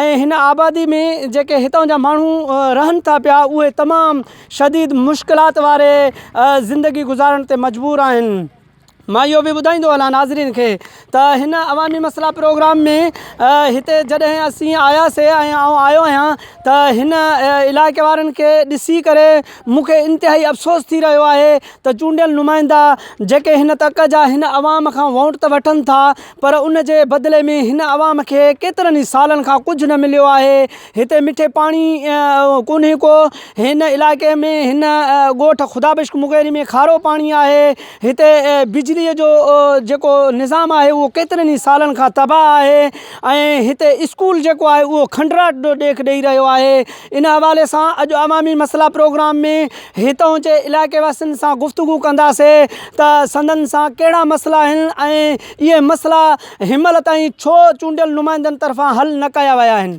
۽ هن آبادي ۾ جيڪي هتان جا ماڻهو رهن ٿا پيا اهي تمام شديد مشڪلات واري زندگي گذارڻ تي مجبور آهن مان اهو به ٻڌائيندو هلان ناظرين کي ته هن عوامي مسئلا پروگرام ۾ هتي جڏهن اسين آياسي ۽ آئون آيو آهيان ته هن علائقي وارن کي ڏسي ڪري مون کي انتهائي افسوس ٿي رهيو آهي ته چونڊيل نمائندا جيڪي هن تڪ جا هن عوام کان وونٽ ته وٺن ٿا پر ان جي بدلي ۾ هن عوام کي ڪيترن ئي سالن کان ڪجهه نه مليو آهي هتي مٺي پاڻي ڪونهي ڪو هن علائقي ۾ هن ڳوٺ خدا بخش مغيري ۾ کارو پاڻي آهي هتي بجلي جو جيڪو نظام آهي اهو ڪيترن ئي سالن کان تباهه آهي ۽ هتي اسڪول جيڪو آهي اهو کنڊرات ڏيک ڏئي رهيو آهي ان حوالي سان اڄ عوامي مسئلا پروگرام ۾ هتان جي علائقي واسين سان گفتگو ڪنداسي ته سندن سان ڪهڙا مسئلا آهن ۽ اهي مسئلا هنمهل تائين ڇو چونڊيل نمائندن طرفان حل نه ڪيا ويا آهن.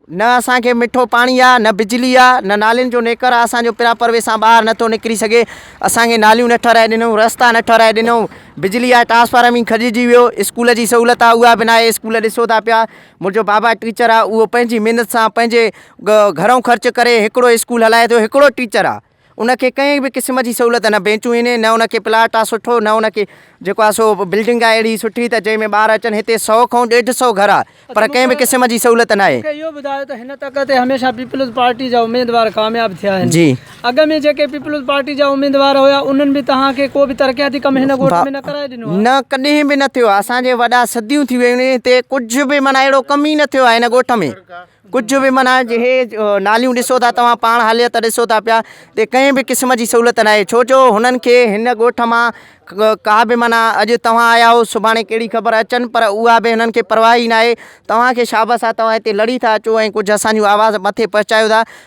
نه اسان کي مٺو پاڻي آ نه بجلي آ نه نالين جو نيڪر آ اسان جو پراپر وي سان ٻاهر نٿو نڪري سگهي اسان کي ناليون نه ٺهرائي ڏنئون رستا نه ٺهرائي ڏنئون بجلي آ ٽرانسفارم ئي کڄجي ويو اسڪول جي سهولت آ اها به ناهي اسڪول ڏسو ٿا پيا منهنجو بابا ٽيچر آ اهو پنهنجي محنت سان پنهنجي گهرئون خرچ ڪري هڪڙو اسڪول هلائي ٿو هڪڙو ٽيچر آ ان کي ڪنهن به قسم جي سهولت نه بينچون هين نه ان کي پلاٽ آ سٺو نه ان کي جيڪو آ سو بلڊنگ آ اهڙي سٺي ته جنهن ۾ ٻار اچن هتي سئو کئون ڏيڍ سئو گهر آ پر ڪنهن به قسم جي سهولت ناهي. مون کي اهو ٻڌايو ته هن تڪ تي هميشه پيپلز پارٽي جا اميدوار ڪامياب ٿيا آهن اڳ ۾ جيڪي پيپلز پارٽي جا اميدوار هيا انهن به توهان کي ڪو به ترقياتي ڪم هن ڳوٺ ۾ نه ڪرائي ڏنو آهي. نه ڪڏهن به نه ٿيو آهي اسان جي وڏا صديون ٿي ويون آهن هتي ڪجهه به معنيٰ اهڙو ڪم ئي نه ٿيو آهي هن ڳوٺ ۾ ڪجهه به معنيٰ هي ناليون ڏسو ٿا توهان پاڻ حاليت ڏسو ٿا پيا هتي ڪنهن به قسم جي سهولت ناهي ڇو جو هنن کي هن ڳوٺ مان ڪا به معنيٰ اڄ توهان آيا آهو سڀاڻي ڪهڙي خبر اچن پر اها به هنن کي پرواهه ئي ناهي توهان کي شابس آهي توهان هتي لڙي ٿا اچو ۽ ڪجهه اسان جون آواز مٿي پهچايو ٿا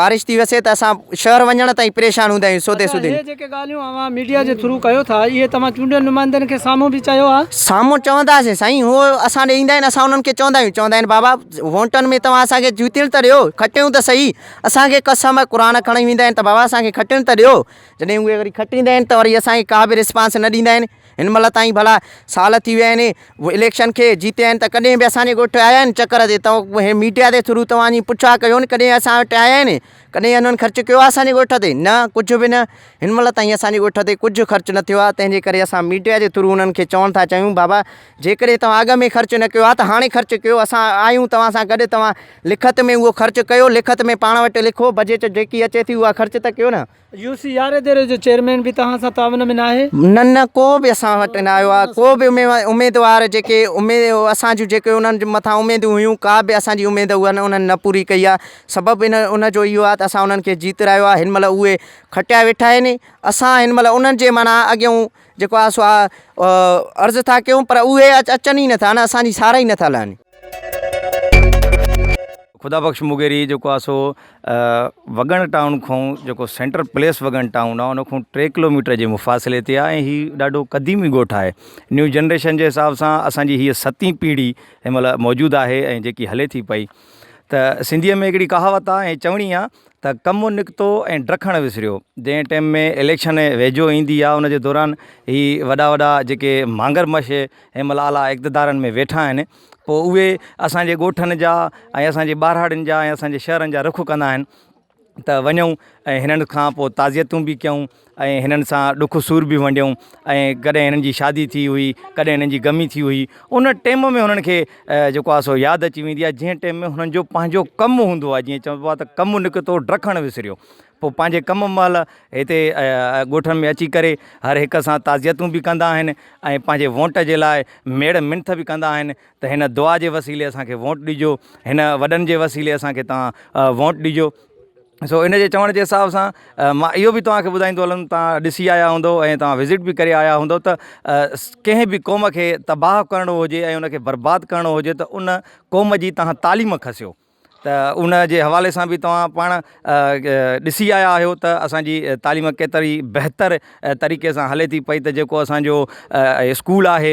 بارش ٿي وسي ته اسان شهر وڃڻ تائين پريشان هوندا آهيون سودي سودي اچا هي جيڪي ڳالهيون اوهان ميڊيا جي ٿرو ڪيو ٿا اهي توهان چونڊيل نمائندن کي سامهون به چيو آهي؟ سامهون چونداسين سائين هو اسان ڏي ايندا آهن اسان انهن کي چوندا آهيون چوندا آهن بابا وونٽن ۾ توهان اسان کي جتڻ ته ڏيو کٽيون ته سهي اسان کي قسم قرآن کڻي ويندا آهن ته بابا اسان کي کٽڻ ته ڏيو جڏهن اهي وري کٽيندا آهن ته وري اسان کي ڪا به رسپانس نه ڏيندا آهن. هن مهل تائين ڀلا سال ٿي ويا آهن اليڪشن کي جيتي آهن ته ڪڏهن به اسان جي ڳوٺ آيا آهن چڪر تي توهان ميڊيا جي ٿرو توهان جي پڇا ڪيو آهن ڪڏهن اسان وٽ آيا آهن ڪڏهن انهن خرچ ڪيو آهي اسان جي ڳوٺ تي نه ڪجهه به نه هن مهل تائين اسان جي ڳوٺ تي ڪجهه خرچ نه ٿيو آهي تنهن جي ڪري اسان ميڊيا جي ٿرو انهن کي چوڻ ٿا چاهيون بابا جيڪڏهن توهان اڳ ۾ خرچ نه ڪيو آهي ته هاڻي خرچ ڪيو اسان آهيون توهان سان گڏ توهان لکت ۾ اهو خرچ ڪيو لکت ۾ پاڻ وٽ لکو بجيٽ جيڪي اچي ٿي اها خرچ ته ڪيو نه يو سي آر اداري جو چيئرمين به توهان سان تعاون ۾ ناهي؟ نه نه ڪو به اسان وٽ نه آيو آهي ڪو به اميدوار جيڪي اسان جون جيڪي انهن جي مٿان اميدون هيون ڪا به اسان جي اميد اها انهن نه پوري ڪئي آهي سبب ان ان جو اهو آهي ته اسان انهن کي جيترايو آهي هن مهل اهي کٽيا ويٺا آهن اسان هن مهل انهن جي معنيٰ اڳيون جيڪو آ سو آ عرض ٿا ڪيون پر اهي اچن ئي نٿا نه اسان جي سارا ئي نٿا لهن. خدا بخش مغيري جيڪو آ سو وڳڻ ٽائون کان جيڪو سينٽر پليس وڳڻ ٽائون آ ان کان ٽي ڪلو ميٽر جي مفاصلي تي آ ۽ هي ڏاڍو قديمي ڳوٺ آهي نيو جنريشن جي حساب سان اسان جي هيء ستين پيڙهي هن مهل موجود آهي ۽ جيڪي هلي ٿي پئي ته سنڌيء ۾ هڪڙي ڪهاوت آ ۽ چوڻي آ ته ڪم نڪتو ۽ ڊکڻ وسريو جنهن ٽيم ۾ اليڪشن ويجهو ايندي آ ان جي دوران هي وڏا وڏا جيڪي مانگر مش هي مهل اعليٰ اقتدارن ۾ ويٺا آهن پو اهي اسانجي ڳوٺن جا ۽ اسانجي ٻهراڙين جا ۽ اسانجي شهرن جا رخ ڪندا آهن ته وڃون ۽ هنن کان پو تعزيتون به ڪيون ۽ هنن سان ڏک سور به ونڊيو ۽ ڪڏهن هنن جي شادي ٿي هئي ڪڏهن هنن جي غمي ٿي هئي ان ٽيم ۾ هنن کي جيڪو آ سو ياد اچي ويندي آ جنهن ٽيم ۾ هنن جو پنهنجو ڪم هوندو آ جيئن چئبو آ ته ڪم نڪتو ڊکڻ وسريو پوء پنهنجي ڪم مهل هتي ڳوٺن ۾ اچي ڪري هر هڪ سان تعزيتون به ڪندا آهن ۽ پنهنجي وونٽ جي لاء ميڙ منٿ به ڪندا آهن ته هن دعا جي وسيلي اسانکي وونٽ ڏجو هن وڏن جي وسيلي اسانکي تان وونٽ ڏجو سو ان جي چوڻ جي حساب سان مان اهو به توهان کي ٻڌائيندو هلم توهان ڏسي آيا هوندو ۽ توهان وزٽ به ڪري آيا هوندو ته ڪنهن به قوم کي تباهه ڪرڻو هجي ۽ ان کي برباد ڪرڻو هجي ته ان قوم جي توهان تعليم کسيو ته ان جي حوالي سان به توهان پاڻ ڏسي آيا آهيو ته اسانجي تعليم ڪيتري بهتر طريقي سان هلي ٿي پئي ته جيڪو اسانجو اسڪول آهي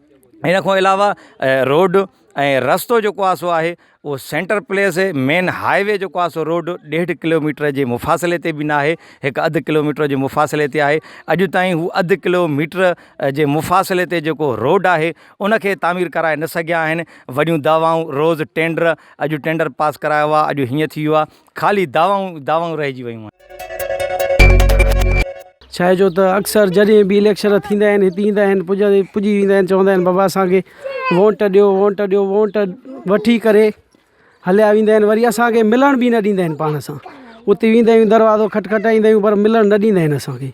ان کان علاوه روڊ ۽ رستو جيڪو آهي سو آهي او centre place main highway جيڪو آهي سو روڊ ڏيڍ ڪلوميٽر جي مفاصلي تي به ناهي هڪ اڌ ڪلوميٽر جي مفاصلي تي آهي اڄ تائين هو اڌ ڪلوميٽر جي مفاصلي تي جيڪو روڊ آهي ان کي تعمير ڪرائي نه سگهيا آهن وڏيون دعوائون روز ٽينڊر اڄ ٽينڊر پاس ڪرايو آهي اڄ هيئن ٿي ويو آهي خالي دعوائون ئي دعوائون رهجي ويون آهن. ڇا جو ته اڪثر جڏهن به اليڪشن ٿيندا آهن هتي ايندا آهن پڄي ويندا آهن چوندا آهن بابا اسان کي وونٽ ڏيو وونٽ ڏيو وونٽ وٺي ڪري هليا ويندا آهن وري اسان کي ملڻ به نه ڏيندا آهن پاڻ سان اتي ويندا آهيون دروازو کٽ کٽائيندا آهيون پر ملڻ نه ڏيندا آهن اسان کي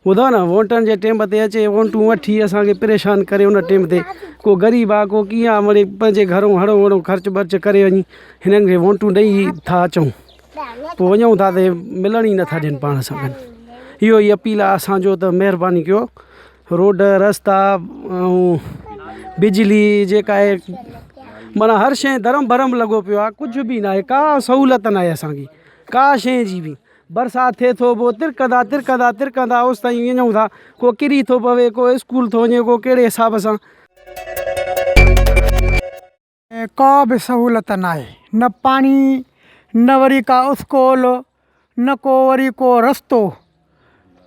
ٻڌو نه ووٽن جي ٽيم تي اچي ووٽون وٺي اسان کي پريشان ڪري ان ٽيم تي ڪو غريب آ ڪو ڪيئن آ مڙي پنهنجي گهرو هڙو هڙو خرچ برچ ڪري وڃي هنن کي ووٽون ڏئي ٿا اچون پوء وڃون ٿا تي ملڻ ئي نٿا ڏين پاڻ سان گڏ اهو ئي اپيل آ اسان جو ته مهرباني ڪيو روڊ رستا ۽ بجلي جيڪا آهي معنی هر شيء درم برم لڳو پيو آ ڪجهه به ناهي ڪا سهولت ناهي اسان کي ڪا شيء جي به برسات ٿئي ٿو پوء ترڪندا ترڪندا ترڪندا اوستائين وڃون ٿا ڪو ڪري ٿو پوي ڪو اسڪول ٿو وڃي ڪو ڪهڙي حساب سان ڪا به سهولت ناهي نه پاڻي نه وري ڪا اسڪول نه ڪو وري ڪو رستو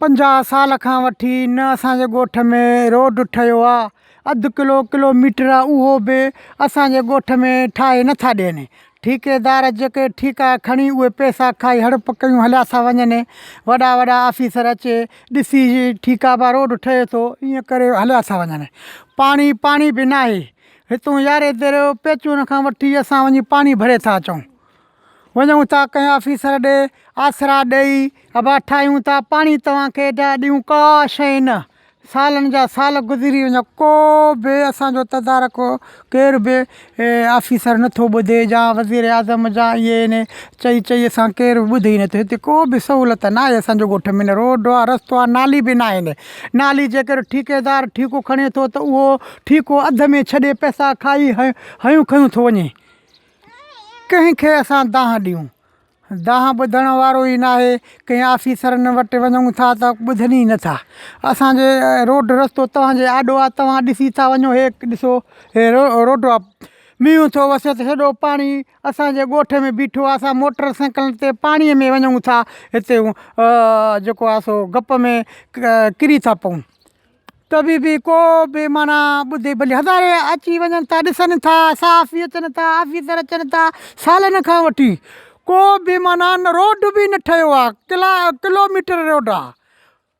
پنجاهه سال کان وٺي نه اسانجي ڳوٺ ۾ روڊ ٺهيو آهي اڌ ڪلو ڪلو ميٽر آ اهو به اسان جي ڳوٺ ۾ ٺاهي نه ٿا ڏين ٺيڪيدار جيڪي ٺيڪا کڻي اهي پئسا کائي هڙپ ڪيون هليا ٿا وڃن وڏا وڏا آفيسر اچي ڏسي ٺيڪا با روڊ ٺهي ٿو ايئن ڪري هليا ٿا وڃن پاڻي پاڻي به ناهي هتون يارهين ديري پيچون کان وٺي اسان وڃي پاڻي ڀري ٿا اچون وڃون ٿا ڪنهن آفيسر ڏي آسرا ڏيئي ابا ٺاهيون ٿا پاڻي توهان کي ايڏا ڏيون ڪا شيء نه سالن جا سال گذري وڃن ڪو به اسان جو تدارڪ ڪير به آفيسر نٿو ٻڌي جا وزير اعظم جا اي اين اي چئي چئي اسان ڪير به ٻڌي نٿو هتي ڪو به سهولت ناهي اسان جو ڳوٺ ۾ نه روڊ آهي رستو آهي نالي به ناهن نالي جي ڪري ٺيڪيدار ٺيڪو کڻي ٿو ته اهو ٺيڪو اڌ ۾ ڇڏي پئسا کائي هيون کيون ٿو وڃي ڪنهن کي اسان دانهن ڏيون؟ دانهن ٻڌڻ وارو ئي ناهي، ڪنهن آفيسرن وٽ وڃون ٿا ته ٻڌن ئي نٿا. اسان جي روڊ رستو توهان جي آڏو آ، توهان ڏسي ٿا وڃو، هي ڏسو هي روڊ آ، مينهن ٿو وسي ته هيڏو پاڻي اسان جي ڳوٺ ۾ بيٺو آ، اسان موٽر سائيڪلن تي پاڻي ۾ وڃون ٿا، هتي جيڪو آ سو گپ ۾ ڪري ٿا پئون. ڪبي به ڪو به معنيٰ ٻڌي ڀلي هزارين اچي وڃن ٿا ڏسن ٿا صحافي اچن ٿا آفيسر اچن ٿا سالن کان وٺي ڪو به معنيٰ نه روڊ به نه ٺهيو آ ڪلا ڪلوميٽر روڊ آ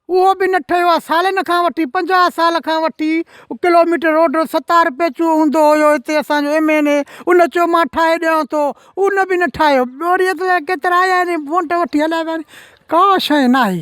اهو به نه ٺهيو آ سالن کان وٺي پنجاهه سال کان وٺي ڪلوميٽر روڊ ستار پيچو هوندو هيو هتي اسانجو ايم اين اي ان چيو مان ٺاهي ڏيانو ٿو ان به نه ٺاهيو ٻوري اتلا ڪيترا آيا آهن ووٽ وٺي هليا ويا آهن ڪا شيء ناهي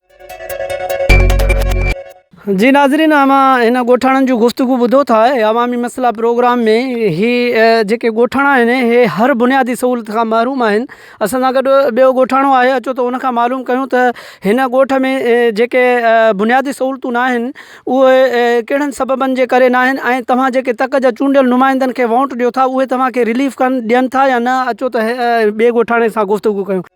جي ناظرين اوهان هن ڳوٺاڻن جون گفتگو ٻڌو ٿا عوامي مسئلا پروگرام ۾ هي جيڪي ڳوٺاڻا آهن هي هر بنيادي سهولت کان محروم آهن اسان سان گڏ ٻيو ڳوٺاڻو آهي اچو ته ان کان معلوم ڪيون ته هن ڳوٺ ۾ جيڪي بنيادي سهولتون نه آهن اهي ڪهڙن سببن جي ڪري نه آهن ۽ توهان جيڪي تڪ جا چونڊيل نمائندن کي ووٽ ڏيو ٿا اهي توهان کي رليف ڪن ڏين ٿا يا نه اچو ته ٻي ڳوٺاڻي سان گفتگو ڪيون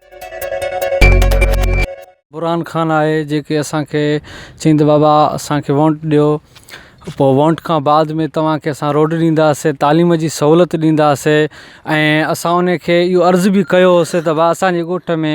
برھان خان آھي جيڪي اسان کي چيائين ته بابا اسان کي وونٽ ڏيو پوء وونٽ کان بعد ۾ توھان کي اسان روڊ ڏينداسين تعليم جي سھولت ڏينداسين ۽ اسان ان کي اھو عرض به ڪيو ھوسي ته بابا اسانجي ڳوٺ ۾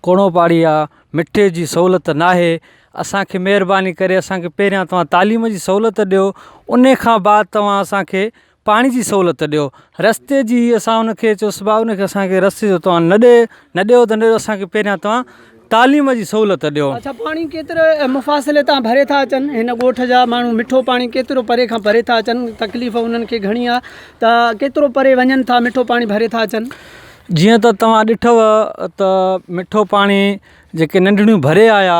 ڪوڙو پاڙي آ مٺي جي سھولت ناھي اسانکي مھرباني ڪري اسانکي پھريان توھان تعليم جي سھولت ڏيو ان کان بعد توھان اسانکي پاڻي جي سهولت ڏيو رستي جي اسان ان کي چوسي بابا ان کي اسانکي رستي جو توهان نه ڏي نه ڏيو ته نه اسانکي پهريان توهان تعليم جي سهولت ڏيو اڇا پاڻي ڪيتري مفاصلي تان ڀري ٿا اچن هن ڳوٺ جا ماڻهو مٺو پاڻي ڪيترو پري کان ڀري ٿا اچن تڪليف انهن کي گهڻي آ ته ڪيترو پري وڃن ٿا مٺو پاڻي ڀري ٿا اچن جيئن ته توهان ڏٺو ته مٺو پاڻي جيڪي ننڍڙيون ڀري آيا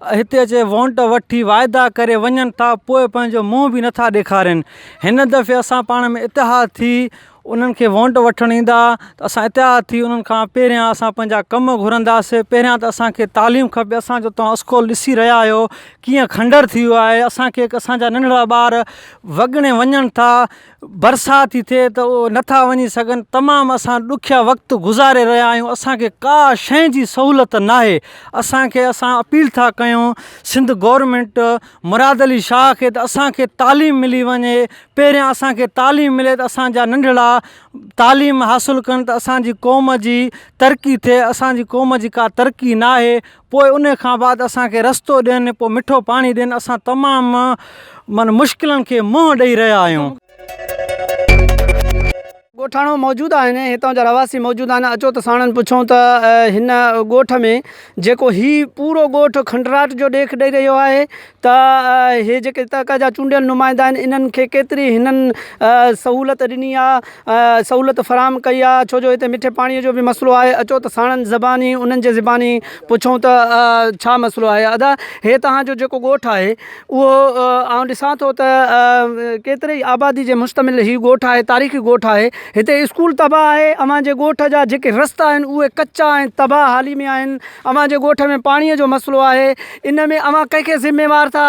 هتي اچي وونٽ وٺي واعدا ڪري وڃن ٿا پوء پنهنجو منهن به نٿا ڏيکارين هن دفعي اسان پاڻ ۾ اتحاد ٿي انهن کي وونٽ وٺڻ ايندا ته اسان اتحاد ٿي انهن کان پهريان اسان پنهنجا ڪم گهرنداسين پهريان ته اسانکي تعليم کپي اسان جو تون اسڪول ڏسي رهيا آهيو ڪيئن کنڊر ٿي ويو آهي اسانکي اسانجا ننڍڙا ٻار وڳڻي وڃن ٿا برسات ٿي ٿئي ته اهي نٿا وڃي سگهن تمام اسان ڏکيا وقت گذاري رهيا آهيون اسانکي ڪا شئي جي سهولت ناهي اسانکي اسان اپيل ٿا ڪيون سنڌ گورمينٽ مراد علي شاهه کي ته اسانکي تعليم ملي وڃي پهريان اسانکي تعليم ملي ته اسانجا ننڍڙا تعليم حاصل ڪن ته اسانجي قوم جي ترقي ٿئي اسانجي قوم جي ڪا ترقي ناهي پوء ان کان بعد اسان کي رستو ڏين پوء مٺو پاڻي ڏين اسان تمام من مشڪلن کي منهن ڏئي رهيا آهيون. ڳوٺاڻو موجود آهن هتان جا رهواسي موجود آهن اچو ته ساڻن پڇون ته هن ڳوٺ ۾ جيڪو هي پورو ڳوٺ کنڊرات جو ڏيک ڏئي رهيو آهي ته هي جيڪي هتان کان جا چونڊيل نمائندا آهن انهن کي ڪيتري هنن سهولت ڏني آهي سهولت فراهم ڪئي آهي ڇو جو هتي مٺي پاڻيء جو بي مسئلو آهي اچو ته ساڻن زباني انهن جي زباني پڇون ته ڇا مسئلو آهي ادا هي توهان جو جيڪو ڳوٺ آهي اهو آئون ڏسان ٿو ته ڪيتري آبادي جي مشتمل هي ڳوٺ آهي تاريخي ڳوٺ آهي هتي اسڪول تباهه آهي اوهان جي ڳوٺ جا جيڪي رستا آهن اهي ڪچا آهن تباهه حالي ۾ آهن اوهان جي ڳوٺ ۾ پاڻيء جو مسئلو آهي ان ۾ اوهان ڪنهن کي ذميوار ٿا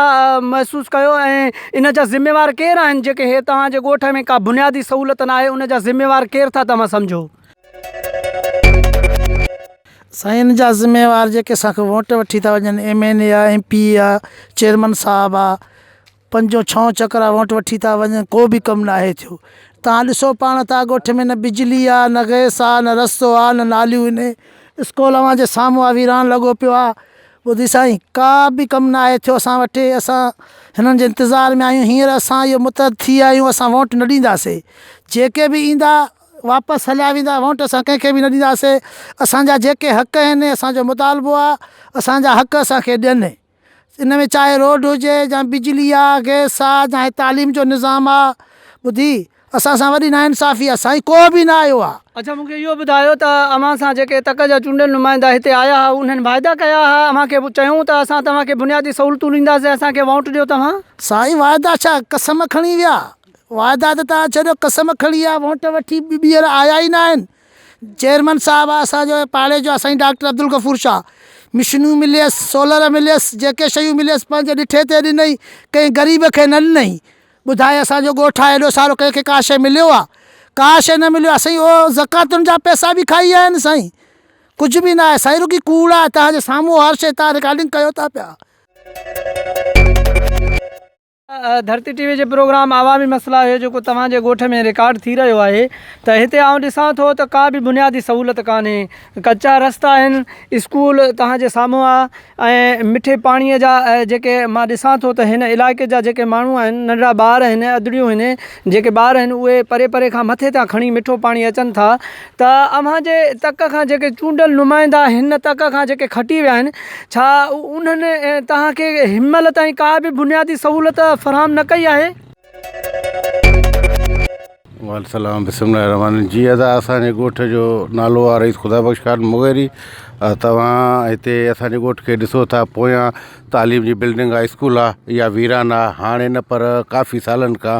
محسوس ڪيو ۽ ان جا ذميوار ڪير آهن جيڪي هي توهان جي ڳوٺ ۾ ڪا بنيادي سهولت ناهي ان جا ذميوار ڪير ٿا توهان سمجهو. سائين ان جا ذميوار جيڪي اسان کي ووٽ وٺي ٿا وڃن ايم اين اي آهي ايم پي اي آهي چيئرمن صاحب آهي پنجون ڇهون چڪرا ووٽ وٺي ٿا وڃن ڪو به ڪم ناهي ٿيو توهان ڏسو پاڻ ته ڳوٺ ۾ نه بجلي آ نه گئس آ نه رستو آ نه ناليون هن اسڪول اوهان جي سامهون آ ويران لڳو پيو آ ٻڌي سائين ڪا به ڪم ناهي ٿيو اسان وٽ اسان هنن جي انتظار ۾ آهيون هينئر اسان اهو متحد ٿي ويا آهيون اسان ووٽ نه ڏينداسي جيڪي به ايندا واپس هليا ويندا ووٽ اسان ڪنهن کي به نه ڏينداسي اسان جا جيڪي حق آهن اسان جو مطالبو آ اسان جا حق اسان کي ڏين ان ۾ چاهي روڊ هجي يا بجلي آهي گئس آهي چاهي تعليم جو نظام آهي ٻڌي اسان سان وڏي نا انصافي آهي سائين ڪو به نه آيو آهي اچا مون کي اهو ٻڌايو ته اوهان سان جيڪي تڪ جا چونڊيل نمائندا هتي آيا هئا انهن واعدا ڪيا هئا اوهان کي چيائون ته اسان توهان کي بنيادي سهولتون ڏينداسين اسان کي ووٽ ڏيو توهان سائين واعدا ڇا قسم کڻي ويا واعدا ته تان ڇڏيو قسم کڻي ويا ووٽ وٺي ٻيهر آيا ئي ناهن چيئرمن صاحب اسان جو پاڙي جو آ سائين ڊاڪٽر عبدالغفور شاھ مشنون مليس سولر مليس جيڪي شيون مليس پنهنجي ڏٺي تي ڏنئي ڪنهن غريب کي نه ڏنئي ٻڌاء اسان جو ڳوٺ آ ايڏو سارو ڪنهن کي ڪا شي مليو آ ڪا شي نه مليو آ سائين اهو زڪواتن جا پئسا به کائي ويا آهن سائين ڪجھ به نه آهي سائين رڳي ڪوڙ آ تنهنجي سامهون هر شي تنهن رڪارڊنگ ڪيو ٿا پيا. ڌرتي ٽي وي جي پروگرام عوامي مسئلا هيو جيڪو توهان جي ڳوٺ ۾ رڪارڊ ٿي رهيو آهي ته هتي آئون ڏسان ٿو ته ڪا به بنيادي سهولت ڪانهي ڪچا رستا آهن اسڪول توهان جي سامهون آ ۽ مٺي پاڻي جا جيڪي مان ڏسان ٿو ته هن علائقي جا جيڪي ماڻهو آهن ننڍڙا ٻار آهن ادڙيون آهن جيڪي ٻار آهن اهي پري پري کان مٿي تان کڻي مٺو پاڻي اچن ٿا ته اوهان جي تڪ کان جيڪي چونڊيل نمائندا هن تڪ کان جيڪي کٽي ويا آهن ڇا انهن توهان کي هنمهل تائين ڪا به بنيادي سهولت فراهم نه ڪئي آهي. وعليڪم سلام بسم الله الرحمٰن الرحيم جي ادا اسانجي ڳوٺ جو نالو آ رئيس خدا بخش خان مغيري توهان هتي اسانجي ڳوٺ کي ڏسو ٿا پويان تعليم جي بلڊنگ آ اسڪول آ اها ويران آ هاڻي نه پر ڪافي سالن کان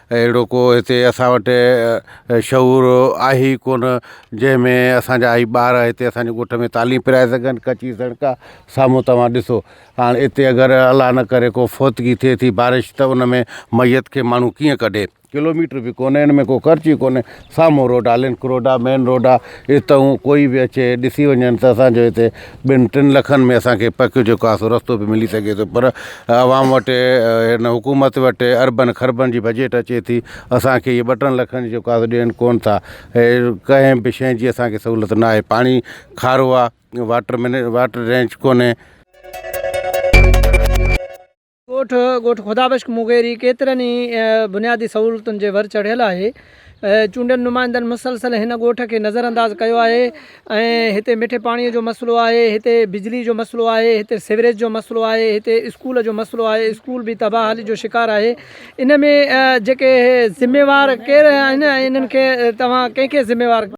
اهڙو ڪو هتي اسان وٽ شعور آهي ئي ڪونه جنهن ۾ اسانجا هي ٻار هتي اسانجي ڳوٺ ۾ تعليم پرائي سگهن ڪچي سڙڪ آ سامهون توهان ڏسو هاڻ اتي اگر الله نه ڪري ڪو فوتگي ٿئي ٿي بارش ته ان ۾ مئيت کي ماڻهو ڪيئن ڪڍي ڪلوميٽر به ڪونه ان ۾ ڪو خرچ ئي ڪونه سامهون روڊ آ، لنڪ روڊ آ، مين روڊ آ، اتي هو ڪوئي به اچي ڏسي وڃن ته اسان جو هتي ٻن ٽن لکن ۾ اسان کي پڪ جو ڪاسو رستو به ملي سگهي ٿو پر عوام وٽ هن حڪومت وٽ اربن کربن جي بجيٽ اچي ٿي اسان کي هي ٻه ٽن لکن جو ڪاسو ڏين ڪون ٿا ڪنهن به شئي جي اسان کي سهولت نه آهي پاڻي کارو آ واٽر مين واٽر رينچ ڪونهي. ڳوٺ ڳوٺ خدا بخش مغيري ڪيترن ئي بنيادي سهولتن جي ور چڙهيل آهي چونڊيل نمائندن مسلسل هن ڳوٺ کي نظر انداز ڪيو آهي ۽ هتي مٺي پاڻي جو مسئلو آهي هتي بجلي جو مسئلو آهي هتي سيوريج جو مسئلو آهي هتي اسڪول جو مسئلو آهي اسڪول به تباهلي جو شڪار آهي ان ۾ جيڪي ذميوار ڪير آهن ۽ انهن کي توهان ڪنهن کي ذميوار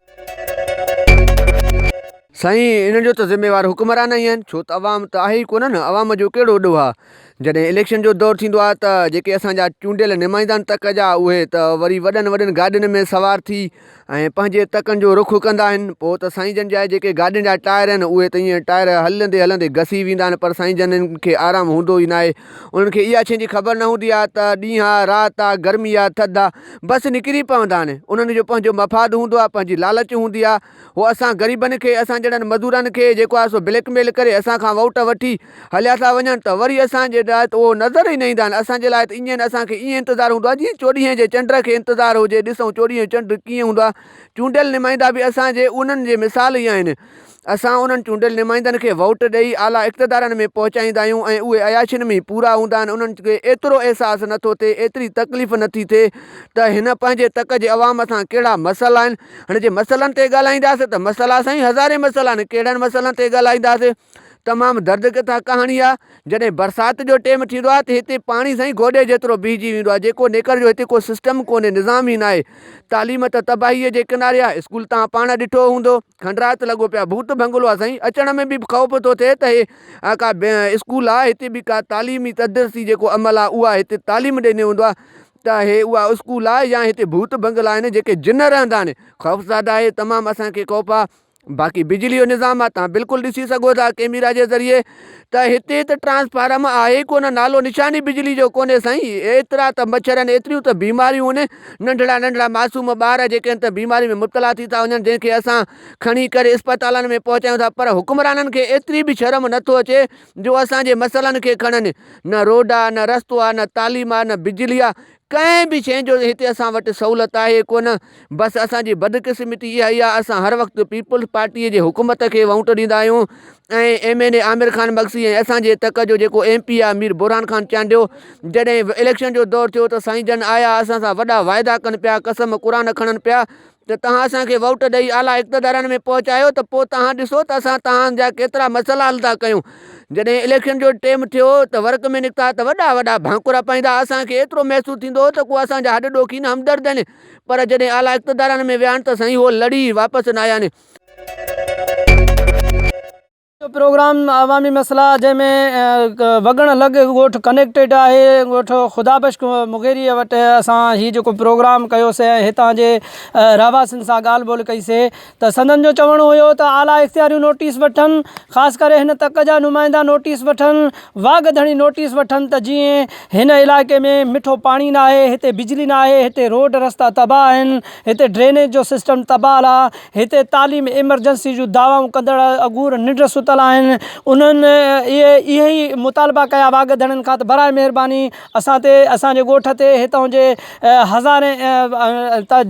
سائين ان جو ته ذميوار حڪمران ئي آهن ڇو ته عوام ته آهي ئي ڪونه نه عوام جو ڪهڙو ڏوهه آهي جڏهن اليڪشن جو دور ٿيندو آهي ته جيڪي اسان جا چونڊيل نمائندا آهن تڪ جا اهي ته وري وڏن وڏن گاڏين ۾ سوار ٿي ۽ پنهنجي تڪن جو رخ ڪندا آهن پوء ته سائين جن جا جيڪي گاڏين جا ٽائر آهن اهي ته ائين ٽائر هلندي هلندي گسي ويندا آهن پر سائين جن کي آرام هوندو ئي ناهي انهن کي اها شين جي خبر نه هوندي آهي ته ڏينهن آهي رات آهي گرمي آهي ٿڌ آهي بس نڪري پوندا آهن انهن جو پنهنجو مفاد هوندو آهي پنهنجي لالچ هوندي آهي هو اسان غريبن کي، اسان جهڙن مزورن کي جيڪو آهي سو بليڪ ميل ڪري اسان کان ووٽ وٺي هليا ٿا وڃن ته وري اسان جي لاء ته اهو نظر ئي نه ايندا آهن، اسان جي لاء ته ايئن اسان کي ايئن انتظار هوندو آهي جيئن چوڏهينء جي چنڊ کي انتظار هجي، ڏسون چوڏهينء جو چنڊ ڪيئن هوندو آهي، چونڊيل نمائندا به اسان جي انهن جي مثال ئي آهن، اسان انهن چونڊيل نمائندن کي ووٽ ڏئي اعليٰ اقتدارن ۾ پهچائيندا آهيون ۽ اهي عياشين ۾ ئي پورا هوندا آهن، انهن کي ايترو احساس نه ٿو ٿئي، ايتري تڪليف نه ٿي ٿئي ته هن پنهنجي تڪ جي عوام سان ڪهڙا مسئلا آهن. هن جي مسئلن تي ڳالهائينداسين ته مسئلا سائين هزارين مسئلا آهن ڪهڙن مسئلن تي ڳالهائينداسين تمام درد ڪٿا ڪهاڻي آهي جڏهن برسات جو ٽيم ٿيندو آهي ته هتي پاڻي سائين گوڏي جيترو بيهجي ويندو آهي جيڪو نيڪر جو هتي ڪو سسٽم ڪونهي نظام ئي نه آهي تعليم ته تباهيء جي ڪناري آهي اسڪول تان پاڻ ڏٺو هوندو کنڊرات لڳو پيا ڀوت ڀنگلو آهي سائين اچڻ ۾ به خوف ٿو ٿئي ته هي ڪا اسڪول آهي هتي به ڪا تعليمي تدرسي جيڪو عمل آهي اهو آهي هتي تعليم ڏيني هوندو آهي ته اهي اها اسڪول آهي يا هتي ڀوت بنگلا آهن جيڪي جن رهندا آهن خوفزاده آهي تمام اسان کي خوف آ باقي بجلي جو نظام آ تان بلڪل ڏسي سگهو ٿا ڪيميرا جي ذريعي ته هتي ته ٽرانسفارم آهي ئي ڪونه نالو نشان ئي بجلي جو ڪونهي سائين ايترا ته مڇر آهن ايتريون ته بيماريون آهن ننڍڙا ننڍڙا معصوم ٻار جيڪي آهن ته بيماري ۾ مبتلا ٿي ٿا وڃن جنهن کي اسان کڻي ڪري اسپتالن ۾ پهچايون ٿا پر حڪمرانن کي ايتري به شرم نٿو اچي جو اسان جي مسئلن کي کڻن. نه روڊ آ، نه رستو آ، نه تعليم آ، نه بجلي آ، ڪنهن به شيء جو هتي اسان وٽ سهولت آهي ڪونه. بس اسان جي بدقسمتي اها ئي آ اسان هر وقت پيپلز پارٽيء جي حڪومت کي وونٽ ڏيندا آهيون ۽ M N A Aamir Khan Magsi ۽ اسان جي تڪ جو جيڪو ايم پي آ مير برهان خان چانڊيو جڏهن اليڪشن جو دور ٿيو ته سائين جن آيا اسان سان وڏا واعدا ڪن پيا قسم قرآن کڻن پيا ته توهان اسان کي ووٽ ڏئي اعليٰ اقتدارن ۾ پهچايو ته پوء توهان ڏسو ته اسان توهان جا ڪيترا مسئلا حل ٿا ڪيون. جڏهن اليڪشن جو ٽيم ٿيو ته ورڪ ۾ نڪتا ته وڏا وڏا ڀانڪورا پائيندا اسان کي ايترو محسوس ٿيندو هو ته ڪو اسان جا هڏ ڏوکين همدرد آهن پر جڏهن اعليٰ اقتدارن ۾ ويا آهن ته سائين هو لڙي واپس نه آيا آهن. جو پروگرام عوامي مسئلا جنهن ۾ وڳڻ لڳ ڳوٺ ڪنيڪٽيڊ آهي ڳوٺ خدا بخش مغيري وٽ اسان هي جيڪو پروگرام ڪيوسي ۽ هتان جي رهواسين سان ڳالهه ٻولهه ڪئي سي ته سندن جو چوڻ هيو ته اعليٰ اختياريون نوٽيس وٺن خاص ڪري هن تڪ جا نمائندا نوٽيس وٺن واڳ ڌڻي نوٽيس وٺن ته جيئن هن علائقي ۾ مٺو پاڻي ناهي هتي بجلي ناهي هتي روڊ رستا تباهه آهن هتي ڊرينيج جو سسٽم تباهه آ هتي تعليم ايمرجنسي جون دعوائون ڪندڙ اگور ننڊ ستل آهن انهن اهي اهي ئي مطالبا ڪيا واڳ ڌڻين کان ته برائي مهرباني اسان تي اسان جي ڳوٺ تي هتان جي هزارين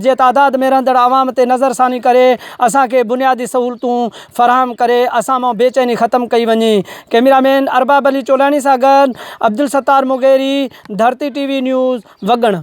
جي تعداد ۾ رهندڙ عوام تي نظر ثاني ڪري اسان کي بنيادي سهولتون فراهم ڪري اسان مان بي چيني ختم ڪئي وڃي ڪئميرا مين ارباب علي چولاڻي سان گڏ Abdul Sattar Mugheri Dharti T V news وڳڻ.